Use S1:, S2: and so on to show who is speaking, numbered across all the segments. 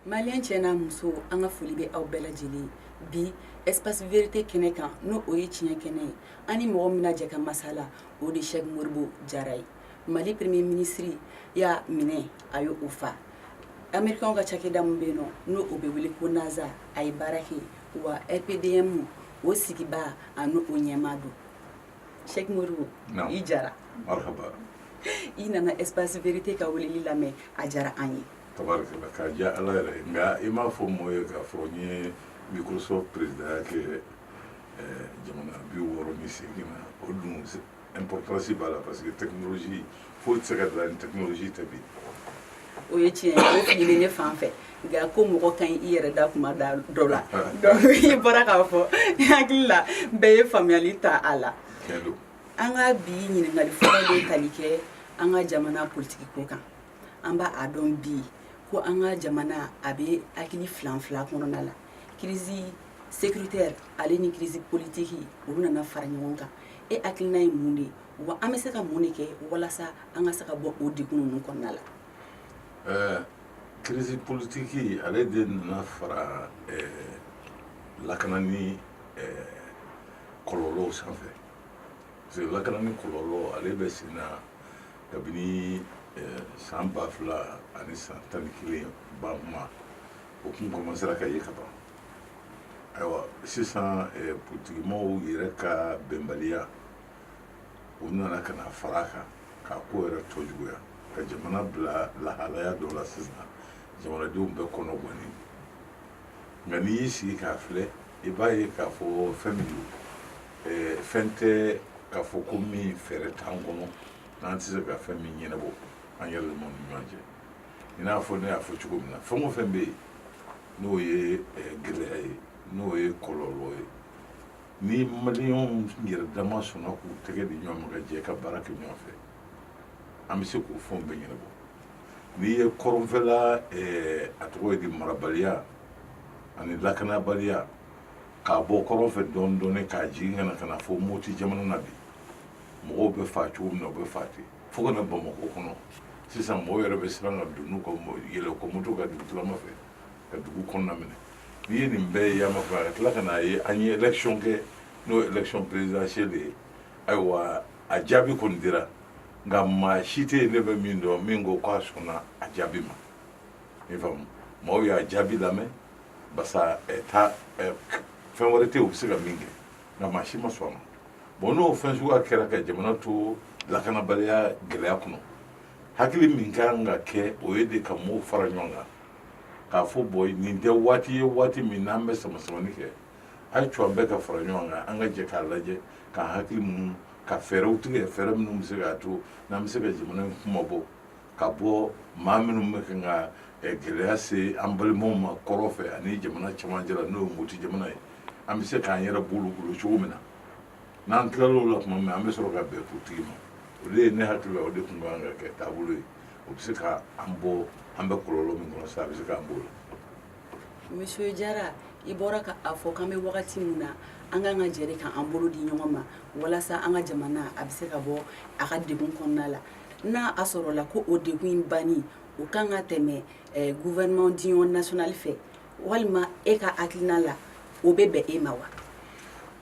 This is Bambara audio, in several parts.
S1: maliyɛn cɛ n'a muso an ka foli bɛ aw bɛɛ lajɛlen bi espace vérité kɛnɛ kan n'o o ye tiɲɛ kɛnɛ ye an ni mɔgɔ min na jɛ ka masala o de Sɛki Modibo Jara ye mali premier minisiriya minɛ a y'o fa Americain ka cakɛda min bɛ yen nɔ n'o o bɛ wele ko NASA a ye baara kɛ yen wa RPDM o sigibaa ani o ɲɛmaa don Sɛki Modibo Naamu i Jara marihaba
S2: i
S1: nana espace vérité ka weleli lamɛn a diyara an ye tabarikala k'a
S2: diya Ala yɛrɛ ye nka i m'a fɔ mɔɔ ye k'a fɔ n ye Microsoft présidentya kɛ jamana bi wɔɔrɔ ni seegin na o dun importance b'a la parce que technologie foyi tɛ se ka dilan ni technologie tɛ bi o
S1: ye tiɲɛ ye o fili ne fan fɛ nka ko mɔgɔ ka ɲi i yɛrɛ da kuma dɔ la i bɔra k'a fɔ hakili la bɛɛ ye faamuyali ta a la an ka bi ɲininkali fɔlɔ bɛ tali kɛ an ka jamana politigi ko kan an b'a dɔn bi ko an ka jamana a bɛ hakili filanfilan kɔnɔna la kirisi sécuritaire ale ni kirisi politigi olu nana fara ɲɔgɔn kan e hakilina ye mun de ye wa an bɛ se ka mun de kɛ walasa an ka se ka bɔ o degun ninnu kɔnɔna la ɛɛ kirisi
S2: politiki ale de nana fara lakanani kɔlɔlɔw sanfɛ parce que lakanani kɔlɔlɔ ale bɛ sen na kabini san ba fila ani san tan ni kelen ba ma o tun kɔmansera ka ye kaban ayiwa sisan politikimɔgɔw yɛrɛ ka bɛnbaliya o nana ka na fara kan k'a ko yɛrɛ tɔ juguya ka jamana bila lahalaya dɔ la sisan jamanadenw bɛɛ kɔnɔ gɔnnen nka n'i y'i sigi k'a filɛ i b'a ye k'a fɔ fɛn min don fɛn tɛ k'a fɔ ko min fɛɛrɛ t'an kɔnɔ n'an tɛ se ka fɛn min ɲɛnabɔ an yɛrɛ damaw ni ɲɔgɔn cɛ i n'a fɔ ne y'a fɔ cogo min na fɛn o fɛn bɛ yen n'o ye gɛlɛya ye n'o ye kɔlɔlɔ ye ni maliyɛnw yɛrɛ dama sɔnna k'u tɛgɛ di ɲɔgɔn ma ka jɛ ka baara kɛ ɲɔgɔn fɛ an bɛ se k'o fɛnw bɛɛ ɲɛnabɔ n'i ye kɔrɔnfɛla a tɔgɔ ye di marabaliya ani lakanabaliya k'a bɔ kɔrɔn fɛ dɔɔnin dɔɔnin k'a jigin ka na ka na fo Moti jamana na bi mɔgɔw bɛ fa cogo min na u bɛ fa ten fo ka na bamakɔ kɔnɔ sisan mɔgɔw yɛrɛ bɛ siran ka don n'u ka yɛlɛ ka moto kan dugu tilama fɛ ka dugu kɔnɔna minɛ n'i ye nin bɛɛ ye yama fɛ ka tila ka n'a ye an ye election kɛ n'o ye election présidentielle ye ayiwa a jaabi kɔni dira nka maa si tɛ yen ne bɛ min dɔn min ko k'a sɔnna a jaabi ma i faamu mɔgɔw y'a jaabi lamɛn parce que fɛn wɛrɛ tɛ yen u bɛ se ka min kɛ nka maa si ma sɔn a ma bon n'o fɛn suguya kɛra ka jamana to lakanabaliya gɛlɛya kɔnɔ hakili min ka kan ka kɛ o ye de ka mɔgɔw fara ɲɔgɔn kan k'a fɔ bɔn nin tɛ waati ye waati min n'an bɛ samasamani kɛ a y'a to an bɛɛ ka fara ɲɔgɔn kan an ka jɛ k'a lajɛ k'an hakili munu ka fɛɛrɛw tigɛ fɛɛrɛ minnu bɛ se k'a to n'an bɛ se ka jamana in kunmabɔ ka bɔ maa minnu bɛ kan ka eh, gɛlɛya se an balimaw ma kɔrɔn fɛ ani jamana cɛmancɛ la n'o ye moti jamana ye an bɛ se k'an yɛrɛ bɔ olu bolo cogo min na n'an tilal'o la tuma min an bɛ sɔrɔ ka bɛn politigi ma o de ye ne hakili la o de tun ka kan ka kɛ taabolo ye o bɛ se ka an bɔ an bɛ kɔlɔlɔ min kɔnɔ sa a bɛ se k'an bɔ o la monsieur
S1: jara i bɔra ka a fɔ k'an bɛ wagati min na an kan ka jɛ de k'an bolo di ɲɔgɔn ma walasa an ka jamana a bɛ se ka bɔ a ka degun kɔnɔna la N'a a sɔrɔ la ko o de in ban o kan ka tɛmɛ gufɛman di nasonali fɛ walima e ka akiina la o bɛ bɛn e ma wa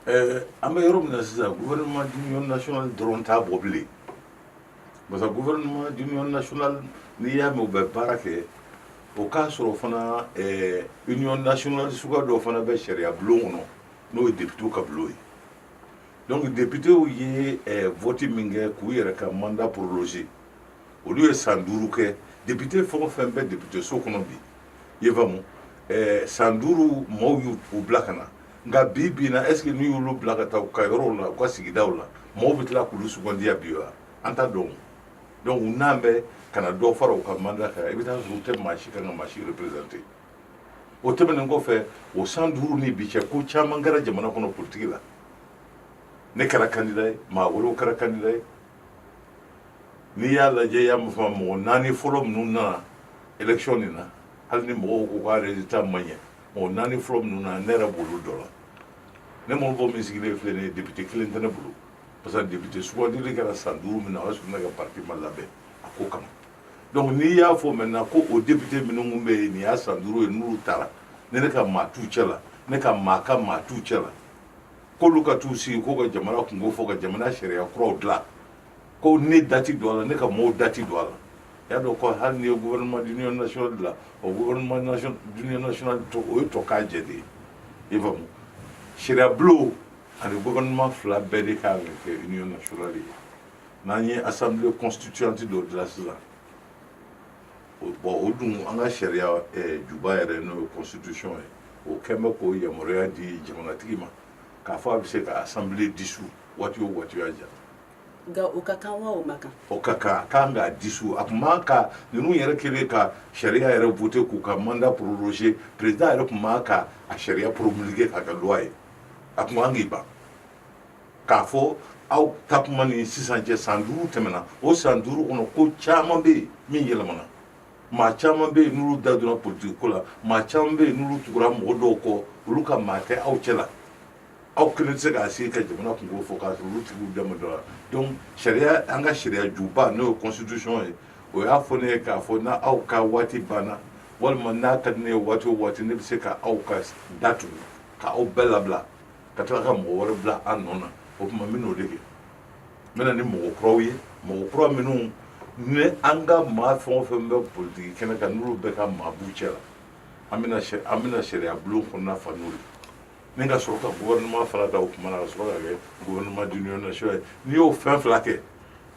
S1: ɛɛ
S2: an bɛ yɔrɔ min na sisan gufɛman di nas dɔrɔn ta bɔ bilen parce gufɛ nas n'i y'a mɛ bɛ baara kɛ o k'a sɔrɔ fana nas suka dɔ fana bɛ sariyaya bulon kɔnɔ n'o ye de ka bulon ye Donc députéw ye vote min kɛ k'u yɛrɛ ka mandat prolonger olu ye san duuru kɛ député fɛn o fɛn bɛ député so kɔnɔ bi i faamu san duuru maaw y'u bila ka na nka bi bi na est-ce que n'u y'olu bila ka taa u ka yɔrɔw la u ka sigidaw la maaw bɛ tila k'olu sugandiya bi wa an t'a dɔn donc n'an bɛ ka na dɔ fara u ka mandat kan i bɛ taa sɔrɔ u tɛ maa si ka maa si représenter o tɛmɛnen kɔfɛ o san duuru ni bi cɛ ko caman kɛra jamana kɔnɔ politiki la ne kɛra kandida ye maa wɛrɛw kɛra kandida ye n'i y'a lajɛ i y'a mɛn fana mɔgɔ naani fɔlɔ minnu nana election nin na hali ni mɔgɔw ko k'a resultat ma ɲɛ mɔgɔ naani fɔlɔ minnu nana ne yɛrɛ b'olu dɔ la ne modibo min sigilen filɛ nin ye député kelen tɛ ne bolo parce que député sugandili kɛra san duuru min na o y'a sɔrɔ ne ka parti ma labɛn a ko kama donc n'i y'a fɔ maintenant ko o député minnu tun bɛ yen nin y'a san duuru ye n'olu taara ne ne ka maa t'u cɛ la ne ka maa ka maa t'u cɛ la k'olu ka t'u sigi k'u ka jamana kunko fɔ ka jamana sariya kuraw dilan ko ne da tɛ don a la ne ka mɔɔw da tɛ don a la i y'a dɔn ko hali n'i ye gouvernement d'union nationale dilan o gouvernement d'union nationale to o ye tɔgɔ jɛ de ye i faamu sariyabulon ani gouvernement fila bɛɛ de kan ka kɛ union nationale ye n'an ye assemblée constituante dɔ dilan sisan bon o dun an ka sariya eh, juba yɛrɛ n'o ye constitution ye o kɛn bɛ k'o yamaruya di jamanatigi ma k'a fɔ a bɛ se ka assemblée dissous waati o waati y'a ja nka
S1: o ka kan wa o man kan o ka kan a kan
S2: k'a dissous a tun man kan ninnu yɛrɛ kɛlen ka sariya yɛrɛ voter k'u ka mandat proroger président yɛrɛ tun man ka a sariya promulguer k'a kɛ loi ye a tun kan k'i ban k'a fɔ aw ta kuma ni sisan cɛ san duuru tɛmɛna o san duuru kɔnɔ ko caman bɛ yen min yɛlɛmana maa caman bɛ yen n'olu da donna politiki ko la maa caman bɛ yen n'olu tugura mɔgɔ dɔw kɔ olu ka maa tɛ aw cɛ la aw kelen tɛ se k'a sigi ka jamana kunko fɔ k'a sɔrɔ olu tigiw da ma don a la donc sariya an ka sariya juba n'o ye constitution ye o y'a fɔ ne ye k'a fɔ n'aw ka waati banna walima n'a ka di ne ye waati o waati ne bɛ se ka aw ka da tugu ka aw bɛɛ labila ka tila ka mɔgɔ wɛrɛ bila aw nɔ na o tuma n bɛn'o de kɛ n bɛ na ni mɔgɔ kuraw ye mɔgɔ kura minnu ni an ka maa fɛn o fɛn bɛ politiki kɛnɛ kan n'olu bɛɛ ka maa b'u cɛ la an bɛna sɛ an bɛna sariya bulon kɔnɔna fa n'o ye ni ka sɔrɔ ka gouvernement fana da o kuma na ka sɔrɔ ka kɛ gouvernement d'union nationale n'i y'o fɛn fila kɛ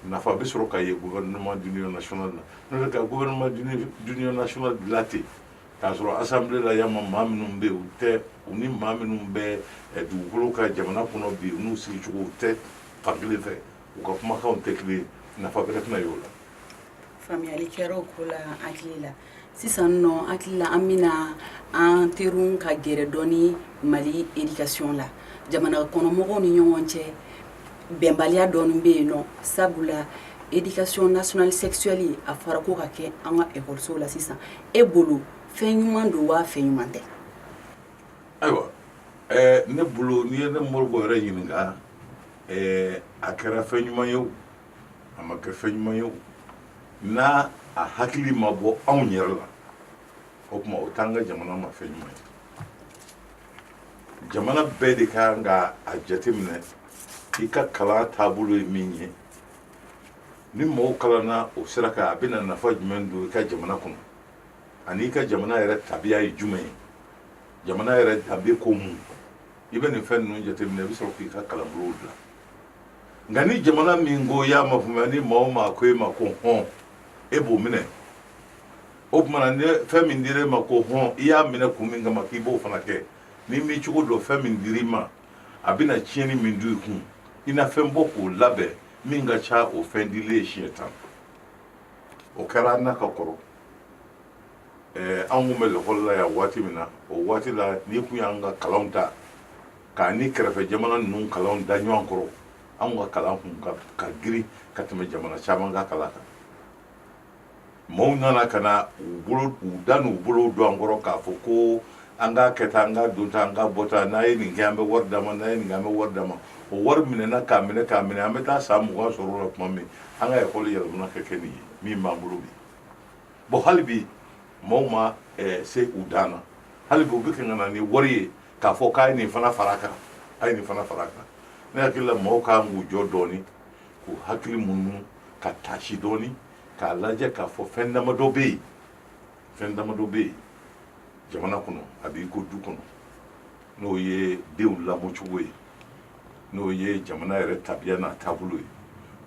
S2: nafa bɛ sɔrɔ ka ye gouvernement d'union nationale na n'o tɛ ka gouvernement d'union nationale dilan ten K'a sɔrɔ assemblée la yan ma maa minnu bɛ yen u tɛ u ni maa minnu bɛ dugukolo kan jamana kɔnɔ bi u n'u sigicogo u tɛ fan kelen fɛ u ka kumakanw tɛ kelen ye nafa bɛrɛ tɛna ye o la
S1: faamuyali kɛra o ko la an hakili la sisan nɔ hakili la an bɛna an terun ka gɛrɛ dɔɔni Mali éducation la jamana kɔnɔmɔgɔw ni ɲɔgɔn cɛ bɛnbaliya dɔɔni bɛ yen nɔ sabula éducation nationale sexuelle a fɔra k'o ka kɛ an ka ekɔlisow la sisan e bolo fɛn ɲuman don wa fɛn ɲuman tɛ
S2: ayiwa ɛɛ ne bolo n'i ye ne Modibo yɛrɛ ɲininka ɛɛ a kɛra fɛn ɲuman ye o a ma kɛ fɛn ɲuman ye o n'a a hakili ma bɔ anw yɛrɛ la o tuma o t'an ka jamana ma fɛn ɲuman ye jamana bɛɛ de ka kan ka a jateminɛ i ka kalan taabolo ye min ye ni mɔgɔw kalanna o sira kan a bɛna nafa jumɛn don i ka jamana kɔnɔ ani i ka jamana yɛrɛ tabiya ye jumɛn ye jamana yɛrɛ danbe ko mun i bɛ nin fɛn ninnu jateminɛ i bɛ sɔrɔ k'i ka kalanbolow dilan nka ni jamana min ko y'a mafaamuya ni maa o maa ko e ma ko hɔn e b'o minɛ o tuma na fɛn min dira e ma ko hɔn i y'a minɛ kun min kama k'i b'o fana kɛ n'i m'i cogo dɔn fɛn min dira i ma a bɛna tiɲɛni min don i kun i na fɛn bɔ k'o labɛn min ka ca o fɛn dilen ye siɲɛ tan o kɛra an na ka kɔrɔ ɛɛ an kun bɛ lakɔli la yan waati min na o waati la n'i kun y'an ka kalanw ta k'a ni kɛrɛfɛ jamana ninnu kalanw da ɲɔgɔn kɔrɔ an ka kalan kun ka girin ka tɛmɛ jamana caman ka kalan kan maaw nana ka na u da n'u bolo don an kɔrɔ k'a fɔ ko an k'a kɛ tan an k'a don tan an k'a bɔ tan n'a ye nin kɛ an bɛ wari d'a ma n'a ye nin kɛ an bɛ wari d'a ma o wari minɛna k'a minɛ k'a minɛ an bɛ taa san mugan sɔrɔ o la tuma min an ka ekɔli yɛlɛmana ka kɛ nin ye min b'an bolo bi bon hali bi maaw ma eh, se u dan na hali bi u bɛ ka na ni wari ye k'a fɔ k'a ye nin fana fara a kan a ye nin fana fara a kan ne hakili la maaw kan k'u jɔ dɔɔni k'u hakili munu ka taasi dɔɔni k'a lajɛ k'a fɔ fɛn damadɔ bɛ yen fɛn damadɔ bɛ yen jamana kɔnɔ a b'i ko du kɔnɔ n'o ye denw lamɔcogo ye n'o ye jamana yɛrɛ tabiya n'a taabolo ye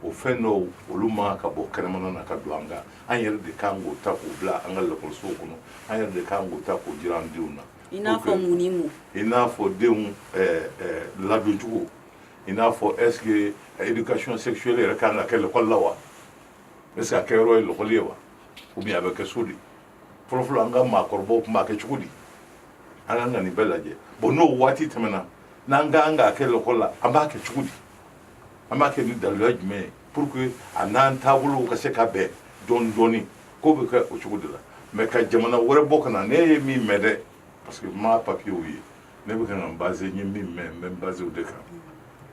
S2: o fɛn dɔw olu ma ka bɔ kɛnɛmana na ka don an kan an yɛrɛ de kan k'o ta k'o bila an ka lakɔlisow kɔnɔ an yɛrɛ de kan k'o ta k'o jira an denw na i n'a fɔ mun ni
S1: mun i n'a fɔ denw
S2: ladoncogo i n'a fɔ est ce que éducation sexuelle yɛrɛ kan ka kɛ l'école la wa est ce que a kɛ yɔrɔ ye lakɔli ye wa ou bien a bɛ kɛ so de fɔlɔfɔlɔ an ka maakɔrɔbaw tun b'a kɛ cogo di an kan ka nin bɛɛ lajɛ bon n'o waati tɛmɛna n'an ka kan k'a kɛ l'école la an b'a kɛ cogo di an b'a kɛ ni daluya jumɛn ye pour que a n'an taabolow ka se ka bɛn dɔɔni dɔɔni ko bɛ kɛ o cogo de la mais ka jamana wɛrɛ bɔ ka na ne ye min mɛn dɛ parce que n ma papiyew ye ne bɛ ka n base n ye min mɛn n bɛ n base o de kan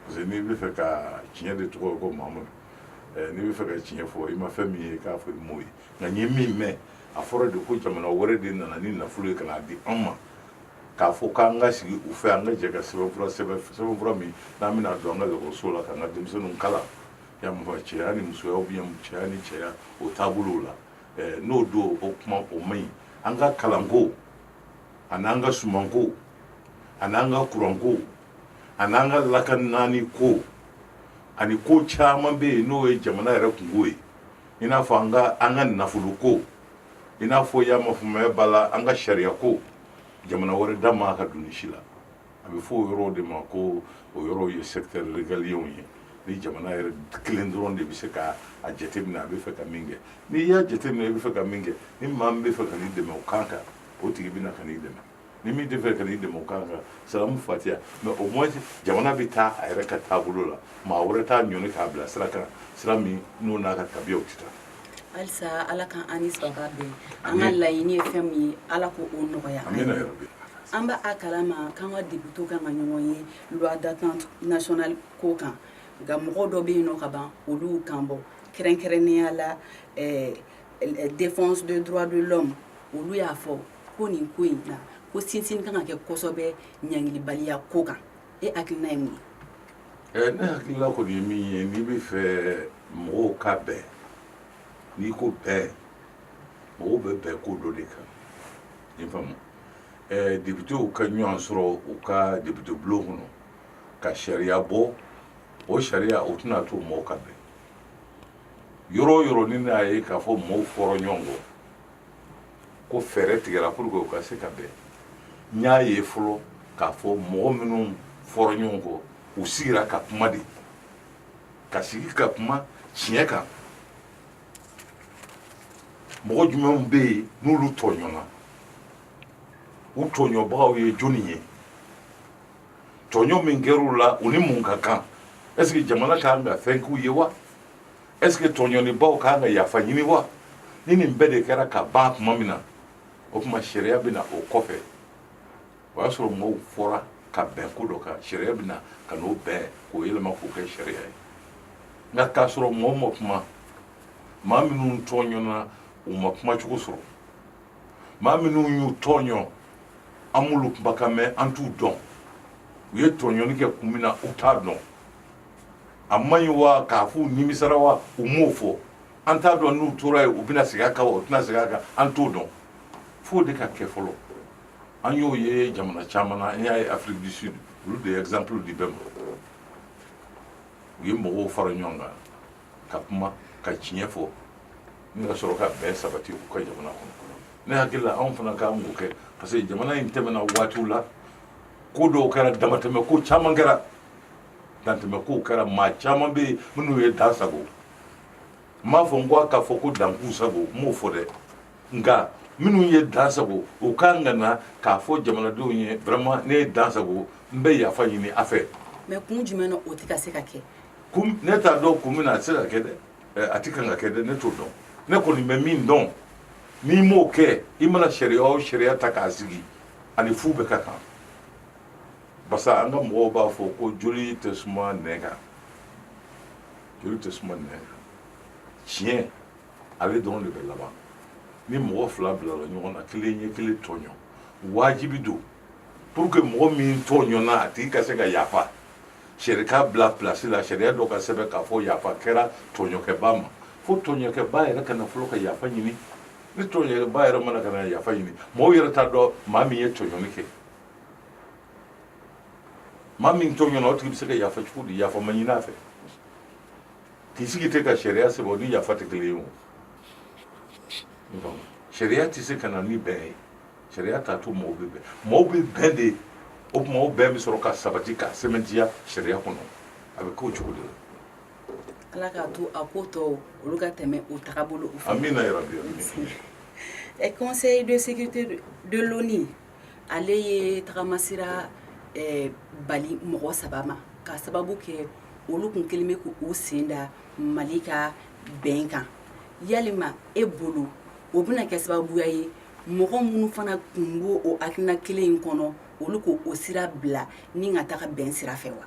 S2: parce que n'i bɛ fɛ ka tiɲɛ de tɔgɔ ye ko mahamadu eh, n'i bɛ fɛ ka tiɲɛ fɔ i ma fɛn min ye k'a fɔ i m'o ye nka n ye min mɛn a fɔra de ko jamana wɛrɛ de nana ni nafolo ye ka n'a di an ma k'a fɔ k'an ka sigi u fɛ an ka jɛ ka sɛbɛnfura sɛbɛn sɛbɛnfura min n'an bɛna don an ka ekɔliso la k'an ka denmisɛnninw kalan ya mɔgɔ cɛya ni musoya ou bien cɛya ni cɛya o taabolow la n'o don o kuma o man ɲi an ka kalanko ani an ka sumanko ani an ka kuranko ani an ka lakanani ko ani ko caman bɛ yen n'o ye jamana yɛrɛ kunko ye i n'a fɔ an ka an ka nafolo ko i n'a fɔ yamafamaya b'a la an ka sariyako jamana wɛrɛ da ma ka don nin si la a bɛ fɔ o yɔrɔw de ma ko o yɔrɔw ye secteur régalienw ye ni jamana yɛrɛ kelen dɔrɔn de bɛ se ka a jateminɛ a bɛ fɛ ka min kɛ n'i y'a jateminɛ i bɛ fɛ ka min kɛ ni maa min bɛ fɛ ka n'i dɛmɛ o kan kan o tigi bɛ na ka n'i dɛmɛ ni min tɛ fɛ ka n'i dɛmɛ o kan kan salamu fatiya mais au moins jamana bɛ taa a yɛrɛ ka taabolo la maa wɛrɛ t'a ɲɔni k'a bila sira kan sira min n'o n'a ka tabiyaw tɛ taa halisa
S1: ala ka an ni saba bɛn an ka laɲini ye fɛn min ye ala k'o nɔgɔya an b'a kalama k'an ka députés kan ka ɲɔgɔn ye loi d'entente nationale ko kan nka mɔgɔ dɔ bɛ yen nɔ ka ban olu kan bɔ kɛrɛnkɛrɛnnenya la eh, eh, défense des droits de l'homme olu y'a fɔ ko nin ko in na ko sinsin kan ka kɛ kosɛbɛ ɲangilibaliya ko kan e hakilina ye mun ye ne hakilina kɔni
S2: ye min ye n'i b'a fɛ mɔgɔw ka bɛn n'i ko bɛn mɔgɔw bɛ bɛn ko dɔ de kan i faamu depitew ka ɲɔgɔn sɔrɔ u ka depite bulon kɔnɔ ka sariya bɔ o sariya o tɛna to mɔgɔw ka bɛn yɔrɔ o yɔrɔ ni n'a ye k'a fɔ mɔgɔw fɔra ɲɔgɔn kɔ ko fɛɛrɛ tigɛra pour que u ka se ka bɛn n y'a ye fɔlɔ k'a fɔ mɔgɔ minnu fɔra ɲɔgɔn kɔ u sigira ka kuma de ka sigi ka kuma tiɲɛ kan mɔgɔ jumɛnw bɛ yen n'olu tɔɲɔna u tɔɲɔbagaw ye jɔni ye tɔɲɔ min kɛra u la u ni mun ka kan est ce que jamana ka kan ka fɛn k'u ye wa Est-ce que tɔɲɔnibaw kan ka yafa ɲini wa? Ni nin bɛɛ de kɛra ka ban tuma min na, o tuma sariya bɛ na o kɔfɛ. O y'a sɔrɔ mɔgɔw fɔra ka bɛn ko dɔ kan, sariya bɛ na ka n'o bɛn k'o yɛlɛma k'o kɛ sariya ye. Nka k'a sɔrɔ mɔgɔ ma kuma, maa minnu tɔɲɔna u ma kuma cogo sɔrɔ, maa minnu y'u tɔɲɔ an m'olu kumakan mɛn an t'u dɔn, u ye tɔɲɔni kɛ kun min na u t'a dɔn. a man ɲi wa k'a f'u nimisara wa u m'o fɔ an t'a dɔn n'u tora yen u bɛna segin a kan wa u tɛna segin a kan an t'o dɔn f'o de ka kɛ fɔlɔ an y'o ye jamana caman na an y'a ye Afrique du Sud olu de ye exemple di bɛɛ ma u ye mɔgɔw fara ɲɔgɔn kan ka kuma ka tiɲɛ fɔ ni ka sɔrɔ ka bɛn sabati u ka jamana kɔnɔ ne hakili la anw fana kan k'o kɛ parce que jamana in tɛmɛna waatiw la ko dɔw kɛra damatɛmɛ ko caman kɛra dantɛmɛ kow kɛra maa caman bɛ yen minnu ye dan sago n m'a fɔ n ko a ka fɔ ko dan k'u sago n m'o fɔ dɛ nka minnu ye dan sago u ka kan ka na k'a fɔ jamanadenw ye vraiment ne ye dan sago n bɛ yafa ɲini a fɛ mais kun jumɛn
S1: na o tɛ ka se ka kɛ kun ne
S2: t'a dɔn kun min na a tɛ se ka kɛ dɛ Eh, a tɛ kan ka kɛ dɛ ne t'o dɔn ne kɔni bɛ min dɔn n'i m'o kɛ i mana sariya o sariya ta k'a sigi a ni fu bɛɛ ka kan parce que an ka mɔgɔw b'a fɔ ko joli tɛ suma nɛn kan joli tɛ suma nɛn kan tiɲɛ ale dɔrɔn de bɛ laban ni mɔgɔ fila bilala ɲɔgɔn na kelen ye kelen tɔɲɔ wajibi don pour que mɔgɔ min tɔɲɔna a tigi ka se ka yafa sariya ka bila pilasi la sariya dɔ ka sɛbɛn k'a fɔ yafa kɛra tɔɲɔkɛba ma fo tɔɲɔkɛba yɛrɛ ka na fɔlɔ ka yafa ɲini ni tɔɲɔkɛba yɛrɛ ma na ka na yafa ɲini mɔgɔw yɛrɛ t'a dɔn maa min ye tɔɲɔni kɛ maa min tɔɲɔna o tigi bɛ se ka yafa cogo di yafa ma ɲini a fɛ k'i sigi ten ka sariya sɛbɛn o ni yafa tɛ kelen ye o donc sariya tɛ se ka na ni bɛn ye sariya t'a to mɔgɔw bɛ bɛn mɔgɔw bɛ bɛn de o tuma o bɛn bɛ sɔrɔ ka sabati ka sɛmɛntiya sariya kɔnɔ a bɛ k'o cogo de la
S1: ala k'a to a ko tɔw olu ka tɛmɛ o tagabolow fɛ amina yarabi
S2: amina conseil de
S1: sécurité de l'ONU ale ye tagamasira bali mɔgɔ saba ma ka sababu kɛ olu kun kɛlen bɛ k'u sen da mali ka bɛn kan yalima e bolo o bɛna kɛ sababuya ye mɔgɔ minnu fana kun b'o o hakilina kelen in kɔnɔ olu k'o o sira bila ni
S2: ka
S1: taga bɛn
S2: sira fɛ
S1: wa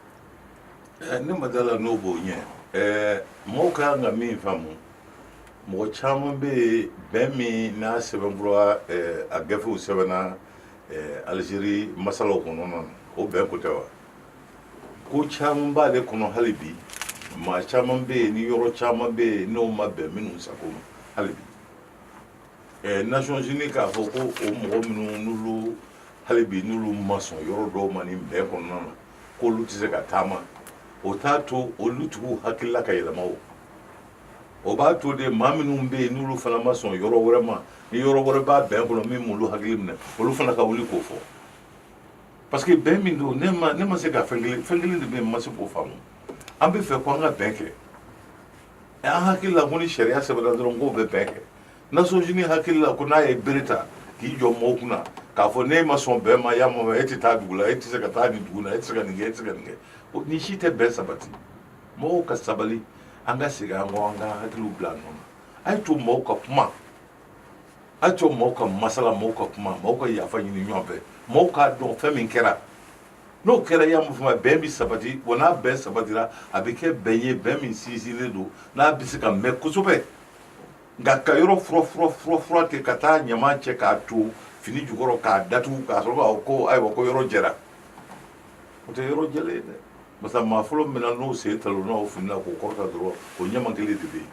S1: ne
S2: ma d'a
S1: la n'o
S2: b'o ɲɛ mɔgɔw ka kan ka min faamu mɔgɔ caman bɛ yen bɛn min n'a sɛbɛnfura a gafew sɛbɛnna alizeri masalaw kɔnɔ na o bɛn ko tɛ wa ko caman b'ale kɔnɔ hali bi maa caman bɛ yen ni yɔrɔ caman bɛ yen n'o ma bɛn minnu sago ma hali bi Nations Unies k'a fɔ ko o mɔgɔ minnu n'olu hali bi n'olu ma sɔn yɔrɔ dɔw ma nin bɛn kɔnɔna na ko olu tɛ se ka taama o t'a to olu tigiw hakilila ka yɛlɛma o o b'a to de maa minnu bɛ yen n'olu fana ma sɔn yɔrɔ wɛrɛ ma ni yɔrɔ wɛrɛ b'a bɛn kɔnɔ min m'olu hakili minɛ olu fana ka wuli k'o fɔ parce que bɛn min don ne ma ne ma se ka fɛn kelen fɛn kelen de bɛ yen n ma se k'o faamu an bɛ fɛ ko an ka bɛn kɛ an hakili la ko ni sariya sɛbɛnna dɔrɔn k'o bɛ bɛn kɛ Nations Unies hakili la ko n'a ye bere ta k'i jɔ mɔgɔw kunna k'a fɔ n'e ma sɔn bɛn ma y'a mɔmɛ e tɛ taa dugu la e tɛ se ka taa nin dugu la e tɛ se ka nin kɛ e tɛ se ka nin kɛ nin si tɛ bɛn sabati mɔgɔw ka sabali an ka segin an kɔ an ka hakiliw bila nɔ na a ye to mɔgɔw ka kuma a ye to mɔgɔw ka masala mɔgɔw ka kuma mɔgɔw ka yafa ɲini ɲɔgɔn fɛ mɔgɔw k'a dɔn fɛn min kɛra n'o kɛra y'a mun fama bɛn bɛ sabati wa n'a bɛn sabatira a bɛ kɛ bɛn ye bɛn min sinsinlen don n'a bɛ se ka mɛn kosɛbɛ nka ka yɔrɔ fura fura fura fura ten ka taa ɲama cɛ k'a to fini jukɔrɔ k'a datugu ka sɔrɔ k'a ko ayiwa ko yɔrɔ jɛra o tɛ yɔrɔ jɛlen ye dɛ parce que maa fɔlɔ min na n'o sen talonna o fini na k'o kɔrɔta dɔrɔn o ɲama kelen de bɛ yen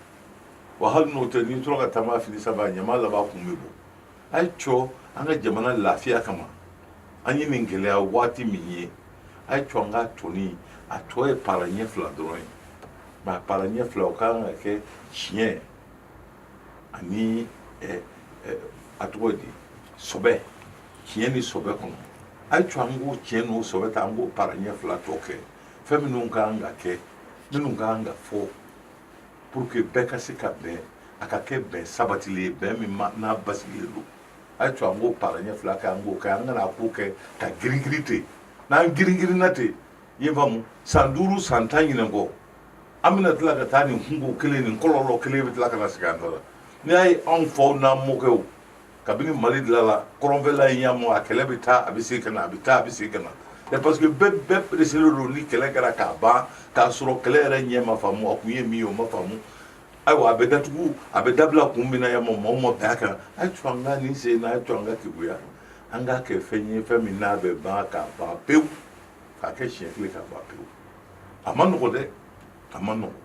S2: wa hali n'o tɛ n'i tora ka taama fini saba ɲama laban kun bɛ bɔ a ye to an ka jamana lafiya kama an ye nin gɛlɛya waati min ye a ye to an ka toni a tɔ ye para ɲɛ fila dɔrɔn ye mais a para ɲɛ fila o ka kan ka kɛ tiɲɛ ani eh, eh, a tɔgɔ di sɔbɛ tiɲɛ ni sɔbɛ kɔnɔ a ye to an k'o tiɲɛ n'o sɔbɛ ta an k'o para ɲɛ fila tɔ kɛ fɛn minnu ka kan ka kɛ minnu ka kan ka fɔ pour que bɛɛ ka se ka bɛn a ka kɛ bɛn sabatilen ye bɛn min n'a basigilen don a ye to an k'o para ɲɛ fila kɛ an k'o kɛ an kana ko kɛ ka giringirin ten n'an giringirinna ten i y'a faamu san duuru san tan ɲinan kɔ an bɛna tila ka taa nin kunko kelen nin kɔlɔlɔ kelen bɛ tila ka na sigi an da la n'i y'a ye anw faw n'an mɔkɛw kabini mali dilala kɔrɔnfɛla in yamu a kɛlɛ bɛ taa a bɛ segin ka na a bɛ taa a bɛ segin ka na mais parce que bɛɛ bɛɛ pereselen don ni kɛlɛ kɛra k'a ban k'a sɔrɔ kɛlɛ yɛrɛ ɲɛ ma faamu a kun ye min ye o ma faamu ayiwa a bɛ datugu a bɛ dabila kun min na yamu maaw ma bɛn a kan a ye to an ka nin sen na a ye to an ka keguya an k'a kɛ fɛn ye fɛn min n'a bɛ ban k'a ban pewu k'a kɛ siɲɛ kelen k'a ban pewu a ma nɔgɔ dɛ a ma nɔgɔ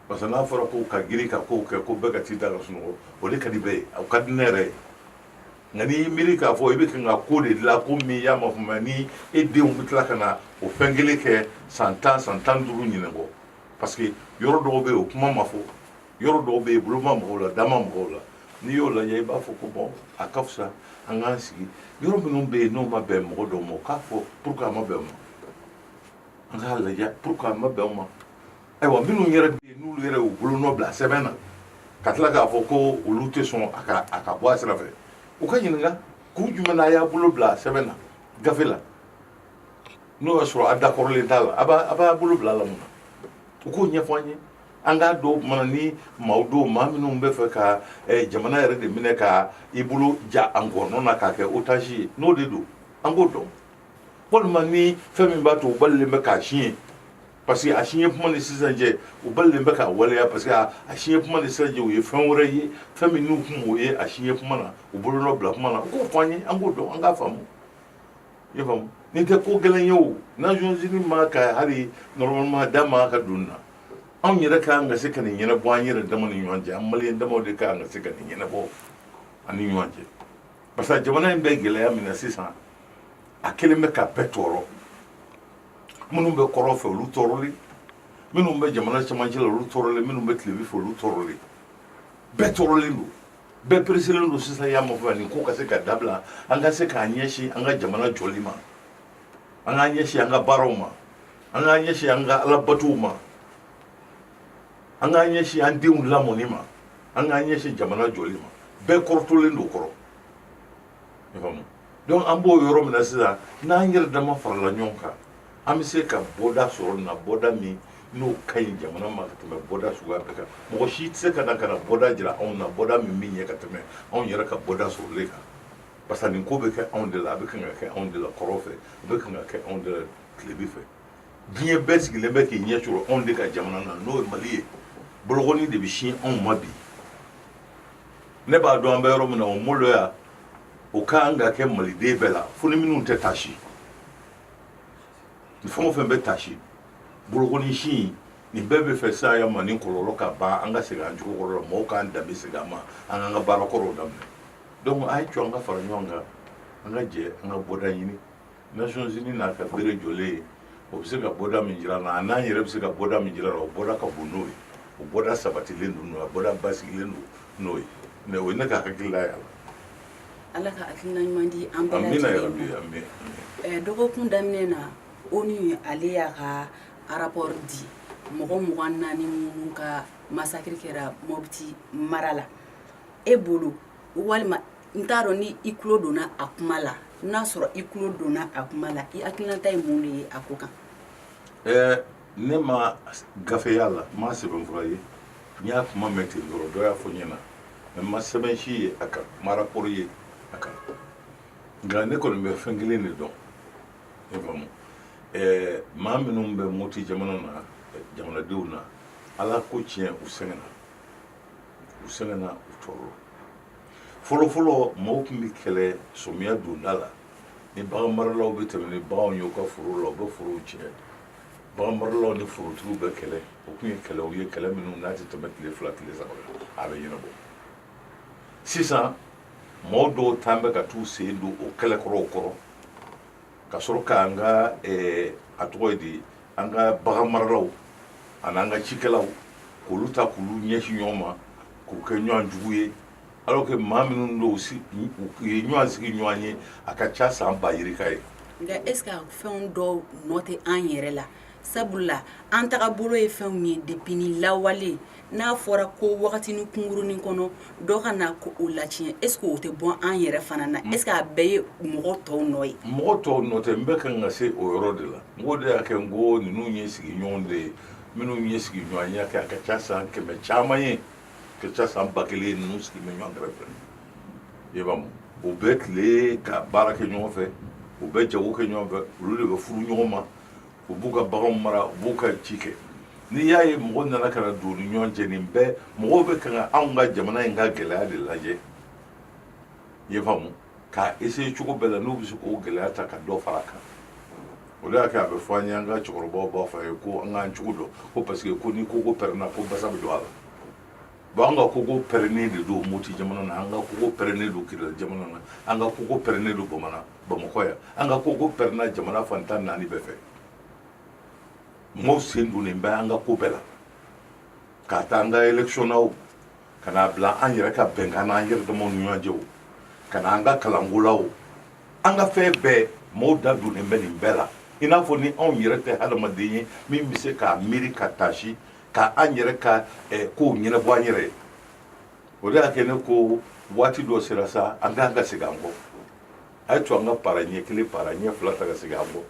S2: Parce que n'a fɔra ko ka girin ka kow kɛ ko bɛɛ ka t'i da ka sunɔgɔ o de ka di bɛɛ ye o ka di ne yɛrɛ ye nka n'i y'i miiri k'a fɔ i bɛ kan ka ko de dilan ko min n'a ma faamu ni e denw bɛ tila ka na o fɛn kelen kɛ san tan san tan ni duuru ɲinan kɔ parce que yɔrɔ dɔw bɛ yen o kuma ma fɔ yɔrɔ dɔw bɛ yen bolo ma maga o la da ma maga o la n'i y'o lajɛ i b'a fɔ ko bon a ka fisa an k'an sigi yɔrɔ minnu bɛ yen n'o ma bɛn mɔgɔ dɔw ma o k'a fɔ pourquoi a ma bɛn o ma an k'a lajɛ pourquoi a ma bɛn o ma ayiwa minnu yɛrɛ bɛ yen n'olu yɛrɛ y'u bolonɔ bila sɛbɛn na ka tila k'a fɔ ko olu tɛ sɔn a ka a ka bɔ a sira fɛ u ka ɲininka kun jumɛn na a y'a bolo bila sɛbɛn na gafe la n'o y'a sɔrɔ a dakɔrɔlen t'a la a b'a a b'a bolo bila a la mun na u k'o ɲɛfɔ an ye an k'a dɔn mana ni maa dɔw maa minnu b'a fɛ ka eh, jamana yɛrɛ de minɛ ka i bolo ja an ngɔnɔ na k'a kɛ otage ye n'o de don an k'o dɔn walima ni fɛn min b'a to u balilen bɛ k'a signé Parce que a signé kuma ni sisan cɛ u balilen bɛ k'a waleya parce que a a signé kuma ni sisan cɛ u ye fɛn wɛrɛ ye fɛn min n'u tun m'o ye a signé kuma na u bolonɔ bila kuma na u k'o fɔ an ye an k'o dɔn an k'a faamu i y'a faamu nin tɛ ko gɛlɛn ye o Nations Unies man kan hali normalement da man ka don nin na anw yɛrɛ ka kan ka se ka nin ɲɛnabɔ an yɛrɛ dama ni ɲɔgɔn cɛ an maliyɛn damaw de ka kan ka se ka nin ɲɛnabɔ an ni ɲɔgɔn cɛ parce que jamana in bɛ gɛlɛya min na sisan a kɛlen bɛ ka bɛɛ tɔɔrɔ minnu bɛ kɔrɔn fɛ olu tɔɔrɔlen minnu bɛ jamana cɛmancɛ la olu tɔɔrɔlen minnu bɛ tilebin fɛ olu tɔɔrɔlen bɛɛ tɔɔrɔlen don bɛɛ pereselen don sisan y'a mafɛ nin ko ka se ka dabila an ka se k'an ɲɛsin an ka jamana jɔli ma an k'an ɲɛsin an ka baaraw ma an k'an ɲɛsin an ka alabatow ma an k'an ɲɛsin an denw lamɔni ma an k'an ɲɛsin jamana jɔli ma bɛɛ kɔrɔtolen don kɔrɔ donc an b'o yɔrɔ min na sisan n'an yɛrɛ dama farala ɲɔgɔn kan an bɛ se ka bɔda sɔrɔ nin na bɔda min n'o ka ɲi jamana ma ka tɛmɛ bɔda suguya bɛɛ kan mɔgɔ si tɛ se ka na ka na bɔda jira anw na bɔda min bɛ ɲɛ ka tɛmɛ anw yɛrɛ ka bɔda sɔrɔlen kan parce que nin ko bɛ kɛ anw de la a bɛ kan ka kɛ anw de la kɔrɔn fɛ a bɛ kan ka kɛ anw de la tilebin fɛ diɲɛ bɛɛ sigilen bɛ k'i ɲɛ coron anw de ka jamana na n'o ye mali ye bolokɔni de bɛ sin anw ma bi ne b'a dɔn an bɛ yɔrɔ min na o maloya o ka kan ka kɛ maliden bɛɛ la fo ni minnu tɛ tasi ni fɛn o fɛn bɛ tasi bolokɔni sin nin bɛɛ bɛ fɛ saya ma ni kɔlɔlɔ ka ban an ka segin an cogo kɔrɔ la mɔgɔw k'an danbe segin an ma an k'an ka baara kɔrɔw daminɛ donc a ye cɔ an ka fara ɲɔgɔn kan an ka jɛ an ka bɔda ɲini Nations Unies n'a ka bere jɔlen ye, o bɛ se ka bɔda min jira an na, an'an yɛrɛ bɛ se ka bɔda min jira a la, o bɔda ka bon n'o ye, o bɔda sabatilen don n'o ye, a bɔda basigilen don n'o ye mais o ye ne ka hakilila ye a la. Ala
S1: ka hakilina ɲuman di an bɛɛ lajɛlen ma. Amina yarabi,
S2: amin, amin. Dɔgɔkun
S1: daminɛ na, ONU ale y'a ka rapport di mɔgɔ mugan ni naani minnu ka massacre kɛra Mopti mara la, e bolo walima n t'a dɔn ni i tulo donna a kuma la n'a sɔrɔ i tulo donna a kuma la i hakilinata ye mun de ye a ko kan ɛɛ
S2: ne ma gafe y'a la n ma sɛbɛn fura ye n y'a kuma mɛn ten dɔrɔn dɔ y'a fɔ n ɲɛna mais n ma sɛbɛn si ye a kan n ma rapport ye a kan nka ne kɔni bɛ fɛn kelen de dɔn i faamu ɛɛ maa minnu bɛ moti jamana na jamanadenw na ala ko tiɲɛ u sɛgɛnna u sɛgɛnna u tɔɔrɔ fɔlɔfɔlɔ mɔgɔw tun bɛ kɛlɛ sɔmiya donda la ni bagan maralaw bɛ tɛmɛ ni baganw ye u ka foro la u bɛ forow tiɲɛ bagan maralaw ni forotigiw bɛ kɛlɛ o tun ye kɛlɛw ye kɛlɛ minnu n'a tɛ tɛmɛ tile fila tile saba a bɛ ɲɛnabɔ sisan mɔgɔw dɔw tan bɛ ka t'u sen don o kɛlɛkɔrɔw kɔrɔ ka sɔrɔ k'an ka a tɔgɔ ye di an ka bagan maralaw ani an ka cikɛlaw k'olu ta k'olu ɲɛsin ɲɔgɔn ma k'u kɛ ɲɔgɔn jugu ye alors que maa minnu don u ye ɲɔgɔn sigiɲɔgɔn ye a ka ca san ba yirika ye nka est-ce
S1: que fɛnw dɔw nɔ tɛ an yɛrɛ la sabula an tagabolo ye fɛnw ye depuis lawale n'a fɔra ko wagati ni kunkurunnin kɔnɔ dɔw ka na ko o latiɲɛ est ce que o tɛ bɔ an yɛrɛ fana na est ce que a bɛɛ ye mɔgɔ tɔw nɔ ye mɔgɔ tɔw nɔ tɛ n bɛ
S2: kan ka se o yɔrɔ de la n k'o de y'a kɛ n ko ninnu ye sigiɲɔgɔn de ye minnu ye sigiɲɔgɔnya kɛ a ka ca san kɛmɛ caman ye ka ca san ba kelen ninnu sigi bɛ ɲɔgɔn kɛrɛfɛ i b'a mu u bɛ tile ka baara kɛ ɲɔgɔn fɛ u bɛ jago kɛ ɲɔgɔn fɛ olu de bɛ furu ɲɔgɔn ma u b'u ka baganw mara u b'u ka ci kɛ n'i y'a ye mɔgɔ nana ka na don ni ɲɔgɔn cɛ nin bɛɛ mɔgɔw bɛ kan ka anw ka jamana in ka gɛlɛya de lajɛ i b'a mu k'a essayer cogo bɛɛ la n'u bɛ se k'o gɛlɛya ta ka dɔ fara a kan o de y'a kɛ a bɛ fɔ an ye an ka cɛkɔrɔbaw b'a fɔ an ye ko an k'an cogo dɔn ko parce que ko ni koko pɛrɛnna ko basa bɛ don a la bon an ka koko pɛrɛnnen de don moti jamana na an ka koko pɛrɛnnen don kidali jamana na an ka koko pɛrɛnnen don bamana bamakɔ yan an ka koko pɛrɛnna jamana fan tan ni naani bɛɛ fɛ mɔgɔw sen donnen bɛ an ka ko bɛɛ la k'a ta an ka election na o ka n'a bila an yɛrɛ ka bɛnkan na an yɛrɛ damaw ni ɲɔgɔn cɛ o ka na an ka kalanko la o an ka fɛn bɛɛ mɔgɔw da donnen bɛ nin bɛɛ la i n'a fɔ ni anw yɛrɛ tɛ hadamaden ye min bɛ se k'a miiri ka taasi ka an yɛrɛ ka eh, kow ɲɛnabɔ an yɛrɛ ye o de y'a kɛ ne ko waati dɔ sera sa an k'an ka segin an kɔ a y'a to an ka para ɲɛ kelen para ɲɛ fila ta ka segin an kɔ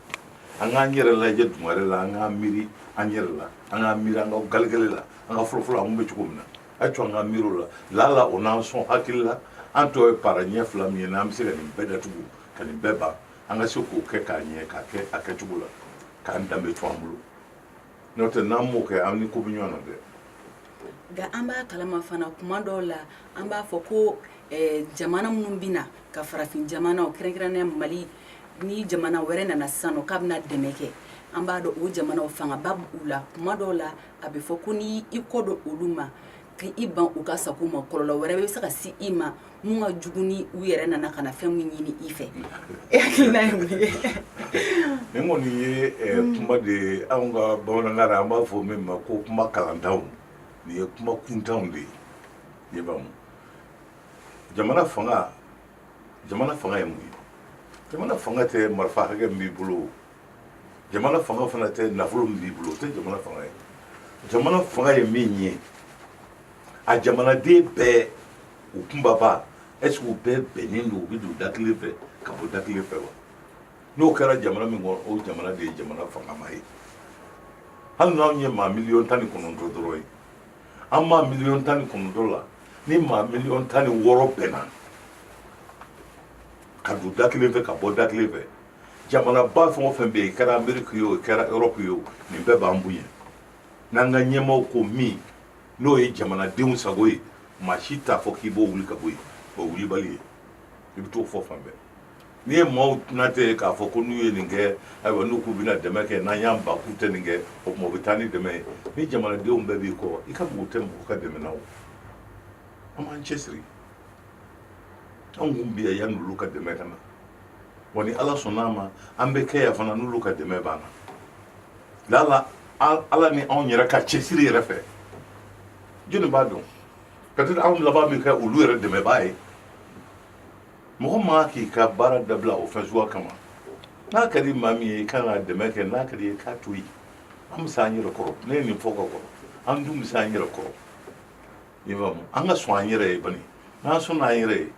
S2: an k'an yɛrɛ lajɛ dugare la an k'an miiri an yɛrɛ la an k'an miiri an ka galegale la an ka fɔlɔfɔlɔ an kun bɛ cogo min na a y'a to an k'an miiri o la lala o n'an sɔn hakili la an tɔ ye para ɲɛ fila min ye n'an bɛ se ka nin bɛɛ datugu ka nin bɛɛ ban an ka se k'o kɛ k'a ɲɛ k'a kɛ a kɛcogo la k'an danbe to an bolo n'o tɛ n'an m'o kɛ an ni ko bɛ ɲɔgɔn na dɛ nka
S1: an b'a kalama fana kuma dɔw la an b'a fɔ ko eh, jamana minnu bɛ na ka farafin jamanaw kɛrɛnkɛrɛnnenya mali ni jamana wɛrɛ nana sisan nɔ k'a bɛna dɛmɛ kɛ an b'a dɔn o jamanaw fangaba b'u la kuma dɔw la a bɛ fɔ ko n'i i kɔ don olu ma ka i ban u ka sago ma kɔlɔlɔ wɛrɛ bɛ se ka se i ma Minnu ka jugu ni u yɛrɛ nana ka na fɛn min ɲini i fɛ e hakilina ye mun ye nin
S2: kɔni ye kuma de ye anw ka bamanankan na an b'a fɔ min ma ko kuma kalantanw nin ye kuma kuntanw de ye i b'a mu jamana fanga jamana fanga ye mun ye jamana fanga tɛ marifa hakɛ min b'i bolo o jamana fanga fana tɛ nafolo min b'i bolo o tɛ jamana fanga ye jamana fanga ye min ye a jamanaden bɛɛ u kunbaba est ce que u bɛɛ bɛnnen don u bɛ don da kelen fɛ ka bɔ da kelen fɛ wa n'o kɛra jamana min kɔnɔ o jamana de ye jamana fangama ye hali n'anw ye maa miliyɔn tan ni kɔnɔntɔn dɔrɔn ye an maa miliyɔn tan ni kɔnɔntɔn la ni maa miliyɔn tan ni wɔɔrɔ bɛnna ka don da kelen fɛ ka bɔ da kelen fɛ jamanaba fɛn o fɛn bɛ yen kɛra ameriki ye o kɛra erɔpu ye o nin bɛɛ b'an bonya n'an ka ɲɛmaaw ko min n'o ye jamanadenw sago ye maa si t'a fɔ k'i b'o wuli ka bɔ yen o wulibali ye i bɛ t'o fɔ fan bɛɛ n'i ye maaw tɛnatɛ ye k'a fɔ ko n'u ye nin kɛ ayiwa n'u k'u bɛna dɛmɛ kɛ n'an y'an ban k'u tɛ nin kɛ o tuma u bɛ taa ni dɛmɛ ye ni jamanadenw bɛɛ b'i kɔ i ka mako tɛ mɔgɔ ka dɛmɛ na o an b'an cɛsiri anw kun bɛ yan yanni olu ka dɛmɛ ka na wa ni ala sɔnna a ma an bɛ kɛ yan fana n'olu ka dɛmɛ banna lala ala ni anw yɛrɛ ka cɛsiri yɛrɛ fɛ jɔnni b'a dɔn peut-être anw laban bɛ kɛ olu yɛrɛ dɛmɛbaa ye mɔgɔ ma k'i ka baara dabila o fɛn suguya kama n'a ka di maa min ye i kan ka dɛmɛ kɛ n'a ka d'i ye k'a to yen an bɛ se an yɛrɛ kɔrɔ ne ye nin fɔ ka kɔrɔ an dun bɛ se an yɛrɛ kɔrɔ i faamu an ka sɔn an yɛrɛ ye bani n'an sɔnna an yɛrɛ ye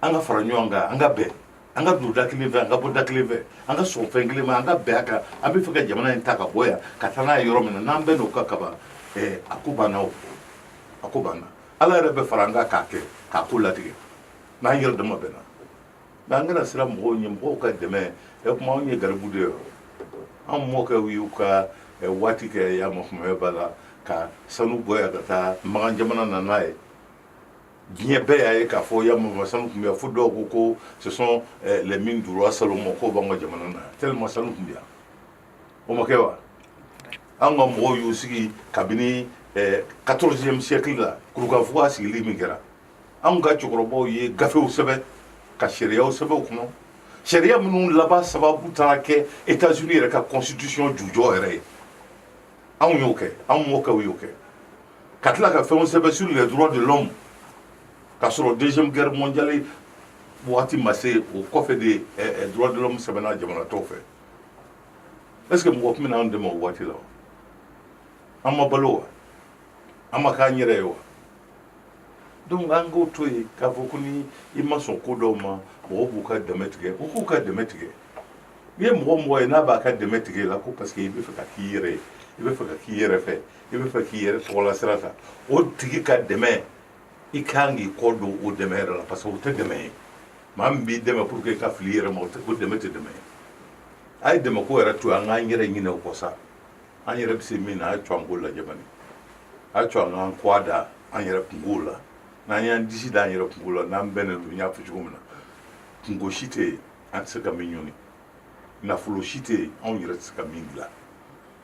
S2: an ka fara ɲɔgɔn kan an ka bɛn an ka don da kelen fɛ an ka bɔ da kelen fɛ an ka sɔn fɛn kelen ma an ka bɛn a kan an bɛ fɛ ka jamana in ta ka bɔ yan ka taa n'a ye yɔrɔ min na n'an bɛnn'o kan kaban ɛɛ a ko banna o a ko banna ala yɛrɛ bɛ fara an kan k'a kɛ k'a ko latigɛ n'an yɛrɛ dama bɛnna mɛ an kana siran mɔgɔw ɲɛ mɔgɔw ka dɛmɛ ɛ kuma anw ye garibu de ye an mɔkɛw y'u ka waati kɛ yan ma kumaya b'a la ka sanu bɔ yan ka taa makan jamana na n'a ye diɲɛ bɛɛ y'a ye k'a fɔ yan sanu tun bɛ yan fo dɔw ko ko ce sont eh, les mines du roi salomon k'o b'an ka jamana na tellement sanu tun bɛ yan o ma kɛ wa an ka mɔgɔw y'u sigi kabini 14e eh, siècle la kurukanfuga sigili min kɛra anw ka cɛkɔrɔbaw ye gafew sɛbɛn ka sariyaw sɛbɛn o kɔnɔ sariya minnu laban sababu taara kɛ états unis yɛrɛ ka constitution jujɔ yɛrɛ ye anw y'o kɛ anw mɔkɛw y'o kɛ ka tila ka fɛnw sɛbɛn sur les droits de l'homme k'a sɔrɔ deuxième guerre mondiale waati ma se o kɔfɛ de eh, eh, droits de l'homme sɛbɛnna jamana tɔw fɛ est ce que mɔgɔ tun bɛna an dɛmɛ o waati la wa an ma balo wa an ma k'an yɛrɛ ye wa donc an k'o to yen k'a fɔ ko ni i ma sɔn ko dɔw ma mɔgɔw b'u ka dɛmɛ tigɛ u k'u ka dɛmɛ tigɛ n'i ye mɔgɔ mɔgɔ ye n'a b'a ka dɛmɛ tigɛ i la ko parce que i bɛ fɛ ka k'i yɛrɛ ye i bɛ fɛ ka k'i yɛrɛ fɛ i bɛ fɛ k'i yɛrɛ tɔgɔla sira ta o tigi ka dɛmɛ i kan k'i kɔ don o dɛmɛ yɛrɛ la parce que o tɛ dɛmɛ ye maa min b'i dɛmɛ pour que i ka fili i yɛrɛ ma o dɛmɛ tɛ dɛmɛ ye a ye dɛmɛ ko yɛrɛ to yen an k'an yɛrɛ ɲinɛ o kɔ sa an yɛrɛ bɛ se min na a ye to an k'o lajɛ bani a ye to an k'an kɔgɔ da an yɛrɛ kunkow la n'an y'an disi da an yɛrɛ kunko la n'an bɛnnen don n y'a fɔ cogo min na kunko si tɛ yen an tɛ se ka min ɲini nafolo si tɛ yen anw yɛrɛ tɛ se ka min dilan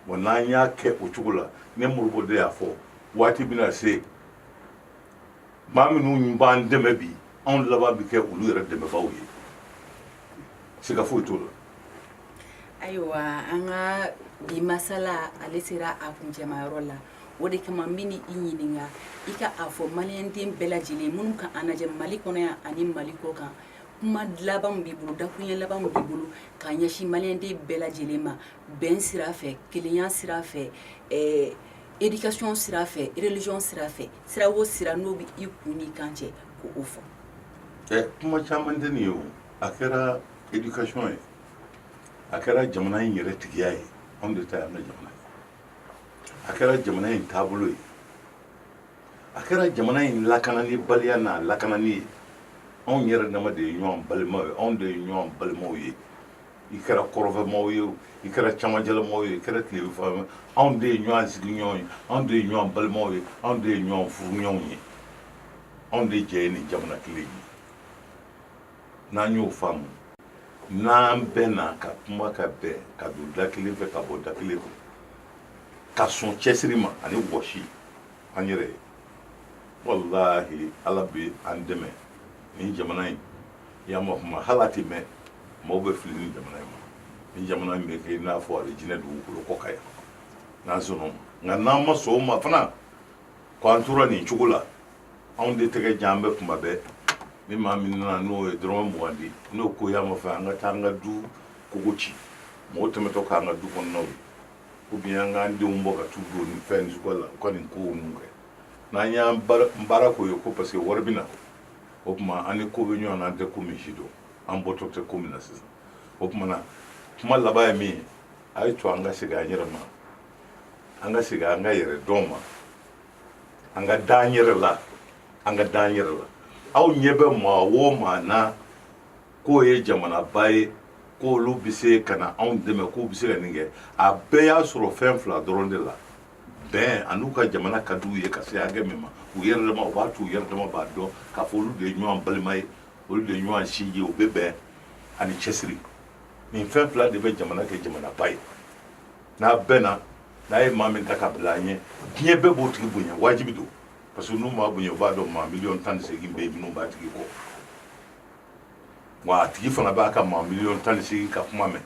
S2: Wa n'an y'a kɛ o cogo la ne Modibo de y'a fɔ waati bɛna se maa minnu b'an dɛmɛ bi anw laban bɛ kɛ olu yɛrɛ dɛmɛbaaw ye siga foyi t'o la ayiwa an
S1: ka bi masala ale sera a kuncɛmayɔrɔ la o de kama n b'i ɲininka i ka a fɔ maliden bɛɛ lajɛlen minnu ka an lajɛ mali kɔnɔ yan ani mali kɔkan kuma laban b'i bolo dakuruɲɛ laban b'i bolo ka ɲɛsin maliden bɛɛ lajɛlen ma bɛn sira fɛ kelenya sira fɛ ɛɛ éducation sira fɛ religion sira fɛ sira o sira n'o bɛ i kun n'i kan cɛ k'o fɔ ɛ kuma caman tɛ
S2: nin ye o a kɛra éducation ye a kɛra jamana in yɛrɛ tigiya ye anw de ta y'an ka jamana ye a kɛra jamana in taabolo ye a kɛra jamana in lakanani baliya n'a lakanani ye anw yɛrɛ dama de ye ɲɔgɔn balimaw ye anw de ye ɲɔgɔn balimaw ye i kɛra kɔrɔnfɛmaaw ye i kɛra camancɛlamaaw ye i kɛra tilebinfɛmaaw ye anw de ye ɲɔgɔn sigiɲɔgɔn ye anw de ye ɲɔgɔn balimaw ye anw de ye ɲɔgɔn furuɲɔgɔnw ye anw de jɛ ye nin jamana kelen ye n'an y'o faamu n'an bɛnna ka kuma ka bɛn ka don da kelen fɛ ka bɔ da kelen fɛ ka sɔn cɛsiri ma ani wɔsi an yɛrɛ ye walahi ala bɛ an dɛmɛ nin jamana in i y'a ma kuma hali a tɛ mɛɛn maaw bɛ fili nin jamana in ma nin jamana in bɛ kɛ i n'a fɔ alijinɛ dugukolo kɔ kan yan n'an sɔnna o ma nka n'an ma sɔn o ma fana k'an tora nin cogo la anw de tɛgɛ jan an bɛ kuma bɛɛ ni maa min nana n'o ye dɔrɔmɛ mugan di n'o ko y'a ma fɛ an ka taa an ka du kogo ci mɔgɔ tɛmɛtɔ k'an ka du kɔnɔnaw ye ou bien an k'an denw bɔ ka t'u don nin fɛn nin suguya la u ka nin kow ninnu kɛ n'an y'an baara baara k'o ye ko parce que wari bɛ na o tuma an ni ko bɛ ɲɔgɔn na an tɛ ko min sidɔn an bɔtɔ tɛ ko min na sisan o tuma na kuma laban ye min ye a y'a to an ka segin an yɛrɛ ma an ka segin an ka yɛrɛdɔn ma an ka da an yɛrɛ la an ka da an yɛrɛ la aw ɲɛ bɛ maa o maa na k'o ye jamanaba ye k'olu bɛ se ka na anw dɛmɛ k'u bɛ se ka nin kɛ a bɛɛ y'a sɔrɔ fɛn fila dɔrɔn de la bɛn an'u ka jamana ka di u ye ka se hakɛ min ma u yɛrɛ dama u b'a to u yɛrɛ dama b'a dɔn k'a fɔ olu de ye ɲɔgɔn balima ye olu de ye ɲɔgɔn sinji ye u bɛ bɛn ani cɛsiri nin fɛn fila de bɛ jamana kɛ jamanaba ye n'an bɛnna n'an ye maa min ta ka bila an ɲɛ diɲɛ bɛɛ b'o tigi bonya wajibi don parce que n'u m'a bonya u b'a dɔn maa miliyɔn tan ni seegin bɛ yen minnu b'a tigi kɔ wa a tigi fana b'a ka maa miliyɔn tan ni seegin ka kuma mɛn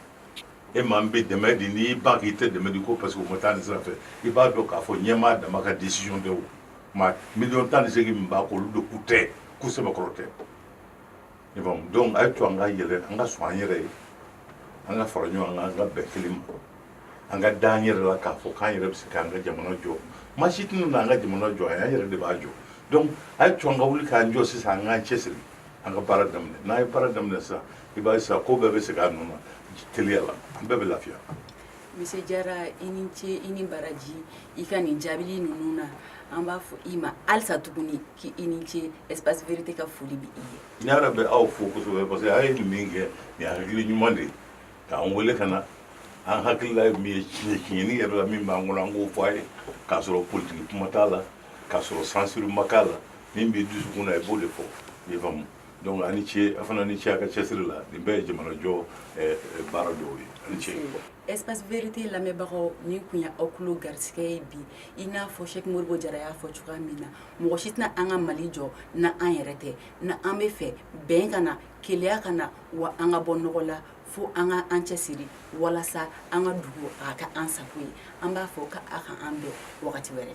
S2: e maa min bɛ dɛmɛ di n'i ban k'i tɛ dɛmɛ di ko parce que o ma taa nin sira fɛ i b'a dɔn k'a fɔ ɲɛmaa dama ka décision tɛ o maa miliyɔn tan ni seegin min b'a kɔ olu de k'u tɛ k'u sɛbɛkɔrɔ tɛ i faamu donc a ye to an ka yɛlɛ an ka sɔn an yɛrɛ ye an ka fara ɲɔgɔn kan an ka bɛn kelen ma an ka da an yɛrɛ la k'a fɔ k'an yɛrɛ bɛ se k'an ka jamana jɔ maa si tɛna n'an ka jamana jɔ an yɛrɛ de b'a jɔ donc a ye to an ka wuli k'an jɔ sisan an k'an cɛsiri an ka baara daminɛ n'an ye baara daminɛ sisan i b'a ye sisan ko bɛɛ bɛ segin a nɔ na teliya la an bɛɛ bɛ lafiya Monsieur Jara
S1: i ni ce i ni baraji i ka nin jaabili ninnu na an b'a fɔ i ma halisa tuguni k'i ni ce espace vérité ka foli bɛ i ye. N yɛrɛ bɛ aw
S2: fo kosɛbɛ parce que a ye nin min kɛ nin hakili ɲuman de ye k'an wele ka na an hakilila ye min ye tiɲɛ tiɲɛni yɛrɛ la min b'an kɔnɔ an k'o fɔ a ye k'a sɔrɔ politiki kuma t'a la. k'a sɔrɔ censure ma k'a la min b'i dusukun na i b'o de fɔ i faamu donc a ni ce a fana ni ce a ka cɛsiri la nin bɛɛ ye jamanajɔ eh, eh, baara dɔw ye a ni ce espace vérité
S1: lamɛnbagaw nin kun ye aw kulo garisigɛ ye bi i n'a fɔ Cheick Modibo Jara y'a fɔ cogoya min na mɔgɔ si tɛna an ka Mali jɔ n'an yɛrɛ tɛ n'an b'a fɛ bɛn ka na kelenya ka na wa an ka bɔ nɔgɔ la fo an ka an cɛsiri walasa an ka dugu a ka k'an sago ye an b'a fɔ ka a ka an bɛn wagati wɛrɛ